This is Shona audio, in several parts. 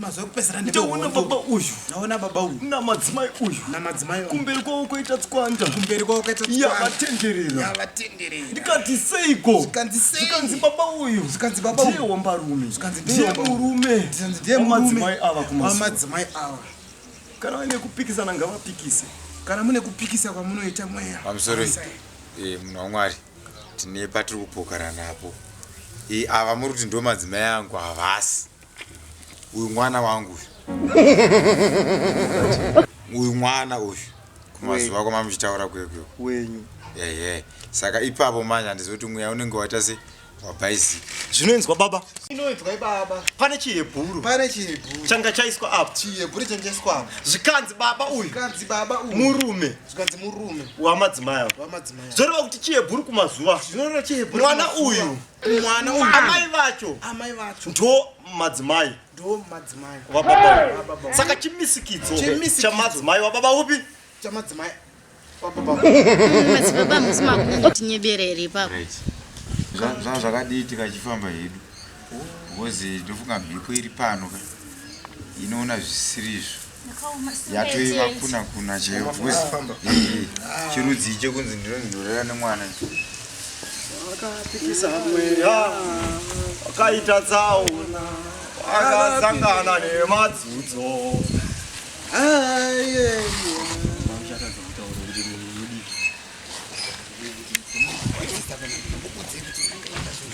mazuva ekupedzisira ndaona baba uyu ndaona baba uyu namadzimai uyu namadzimai kumberi kwavo kwaita tswanda kumberi kwavo kwaita yavatenderera yavatenderera ndikati seiko zvikanzi sei zvikanzi baba uyu zvikanzi baba uyu ndiye wambarume zvikanzi ndiye murume zvikanzi ndiye murume madzimai ava kumazuva madzimai ava kana vaine kupikisana ngavapikise kana mune kupikisa kwamunoita mweya pamusoro eh, munhu wamwari tine patiri kupokarana apo eh, ava muri kuti ndo madzimai angu havasi uyu mwana wangu uyu uyu mwana uyu kumazuva kwama muchitaura kwekwe wenyu ehe saka ipapo manje handizoti mweya unenge waita se wabhaizika zvinoinzwa baba inoinzwa ibaba pane chihebhuru pane chihebhuru changa chaiswa apo chihebhuru changa chaiswa apo zvikanzi baba uyu zvikanzi baba uyu murume zvikanzi murume wamadzimai wamadzimai zvoreva kuti chihebhuru kumazuva zvinoreva chihebhuru mwana uyu mwana uyu amai vacho amai vacho ndo madzimai ndo madzimai wababa saka chimisikidzo chamadzimai wababa upi chamadzimai wababa madzibaba musi makuru ngotinyebere here ipapo zvanga zvakadii tikachifamba hedu because ndofunga mhepo iri pano ka inoona zvisirizvo yatoiva kuna kuna chaiyo bcause chirudzi icho kunzi ndinonzi ndorera nemwana akapikisa mweya akaita tsaona akasangana nemadzudzo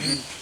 Thank you.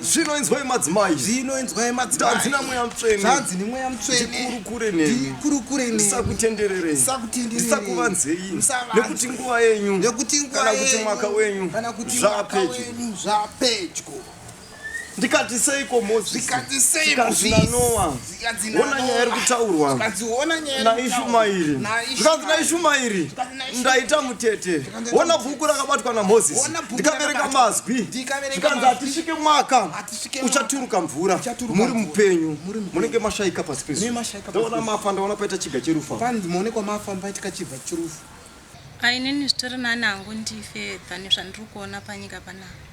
zvino inzwai madzimai zvino inzwai madzimaitanzi namweya mutsvene zvanzi nemweya mutsvenedikurukure nenikurukure ndisakutendererei ndisakuvanzei nekuti nguva yenyu nekuti nguva kana kuti mwaka wenyu kana kuti mwaka wenyu zvapedyo ndikati seiko mozisi ndikati sei mozisi ona nyaya iri kutaurwa naishumairi zvikanzi naishumairi ndaita mutete ona bhuku rakabatwa namozisi ndikaverenga mazwi zvikanzi hatisvike mwaka uchaturuka mvura muri mupenyu munenge mashaika pasi pezuaona mafa ndaona paita chiga cherufu ainini zvitori nani hangu ndife tani zvandiri kuona panyika panapa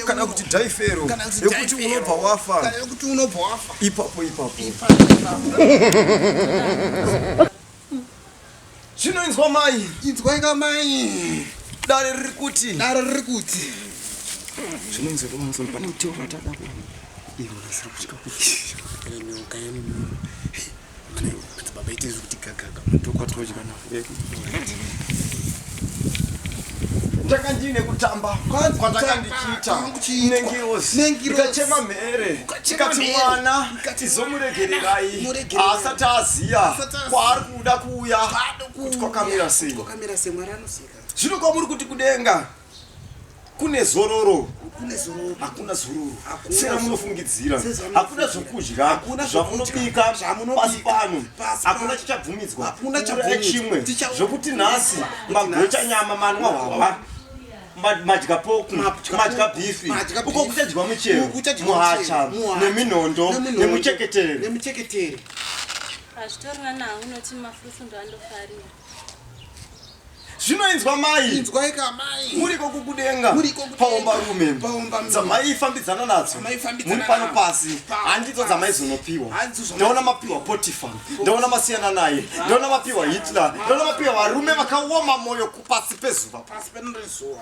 kana kuti dhaifero yekuti unobva wafa ipapo ipapo zvinoinzwa mai inzwaika mai dare riri kuti dare riri kuti zvinoinzwa kumanzwa pane muteo watada kuona ivo nasiri kutya kuti ndanga ndiine kutamba kwandanga ndichiita nengirozi ikachema mhere ikati mwana izomuregererai asati aziya kwaari kuda kuuya kuti kwakamira sei zvino kwamuri kuti kudenga kune zororo hakuna zororo sera munofungidzira hakuna zvokudya zvamunobika pasi pano hakuna chichabvumidzwa hakuna chimwe zvokuti nhasi magocha nyama manwa hwahwa madya poku madya bifi uko kuchadyiwa muchero muhacha neminondo nemucheketere hazvitorina nawo unoti mafruits ndoandofarira zvino inzwa mai inzwai ka mai muriko kukudenga muriko paomba rume paomba dzamai fambidzana nadzo muri pano pasi handidzo dzamai zonopiwa ndaona mapiwa potifa ndaona masiyana naye ndaona mapiwa hitler ndaona mapiwa varume vakaoma moyo kupasi pezuva pasi penorezuva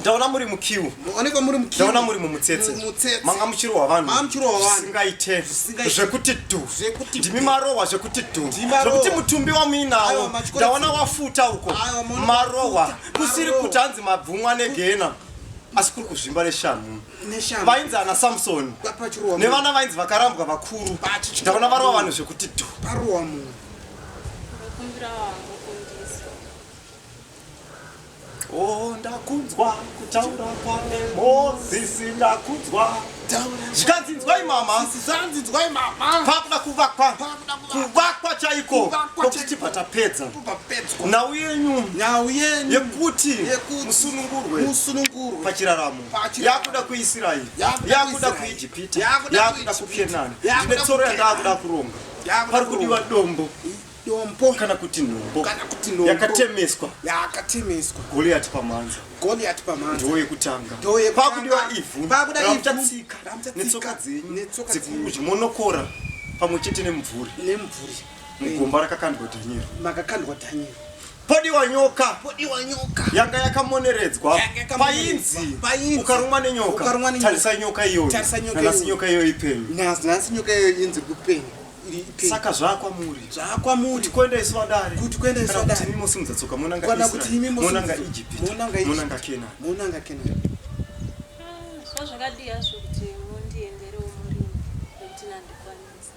ndaona muri mukiu maonekwa muri mukiu ndaona muri mumutsetse mumutsetse manga muchirohwa vanhu manga muchirohwa vanhu zvisingaite zvekuti dhu zvekuti ndimi marohwa zvekuti dhu zvekuti mutumbi wamuinawo ndaona wafuta uko marohwa kusiri kuti hanzi mabvumwa negena asi kuri kuzvimba neshamhu vainzi ana samsoni nevana vainzi vakarambwa vakuru ndaona varohwa vanhu zvekuti dhu Oh, ndakunzwa kutaura kwake Mozisi, ndakunzwa zvikanzi nzwai mama, zvikanzi nzwai mama, pakuda kuvakwa, kuvakwa chaiko, kokuti tibva tapedza nhau yenyu, nhau yenyu yekuti musunungurwe, musunungurwe pachiraramo, yakuda kuIsraeri, yakuda kuIjipita, yakuda kuKenani, ine tsoro yandakuda kuronga, pari kudiwa dombo dombo kana kuti nhombo kana kuti nhombo yakatemeswa yakatemeswa Goliath pamhanza Goliath pamhanza ndiwo yekutanga ndiwo yekutanga pakudiwa ivhu pakuda ivhu tatsika netsoka dzenyu netsoka dzenyu monokora pamwe chete nemvuri nemvuri mugomba rakakandwa Daniel makakandwa Daniel podiwa nyoka podiwa nyoka yanga yakamoneredzwa painzi ukarumwa nenyoka tarisa nyoka iyoyo nyoka iyoyo ipenyu nasi nyoka iyoyo inzi kupenyu saka zvakwamuri zvakwamuri kuenda isu vadare kuti kuenda isu vadare kuti mimi simudza tsoka mona nga kana kuti mimi mona nga Egypt mona nga mona nga Kena mona nga Kena so ah, zvakadii hazvo kuti mondiendere umuri kuti nandikwanisa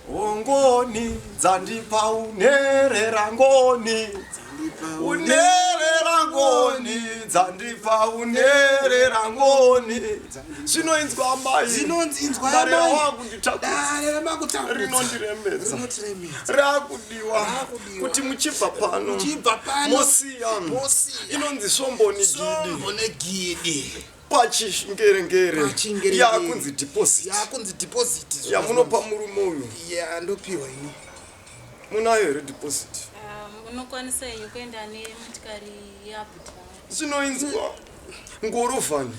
ongoni dzandipa unerera ngoni unerera ngoni dzandipa unerera ngoni zvinoinzwa mairinondiremedza rakudiwa kuti muchibva pano mosiya inonzi svomboni gidi pachingerengere yakunzi deposit yamunopa murume uyu ndopiwa ini Munayo here deposit? Um, unokwanisa henyu kuenda nemotikari yabuti zvinoinzwa ngorovani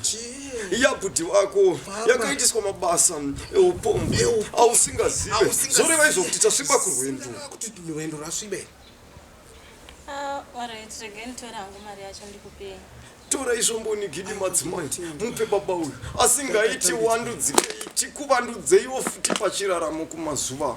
yabuti vako yakaitiswa mabasa eupombo ausingazive zvoreva izvo kuti tasviba kurwendo kuti rwendo rwasvibe Ah, alright regai nditore hangu mari yacho ndikupei tora izvomboni gidi madzimai mupe baba uyu asingaiti wandudzikei tikuvandudzeiwo futi pachiraramo kumazuva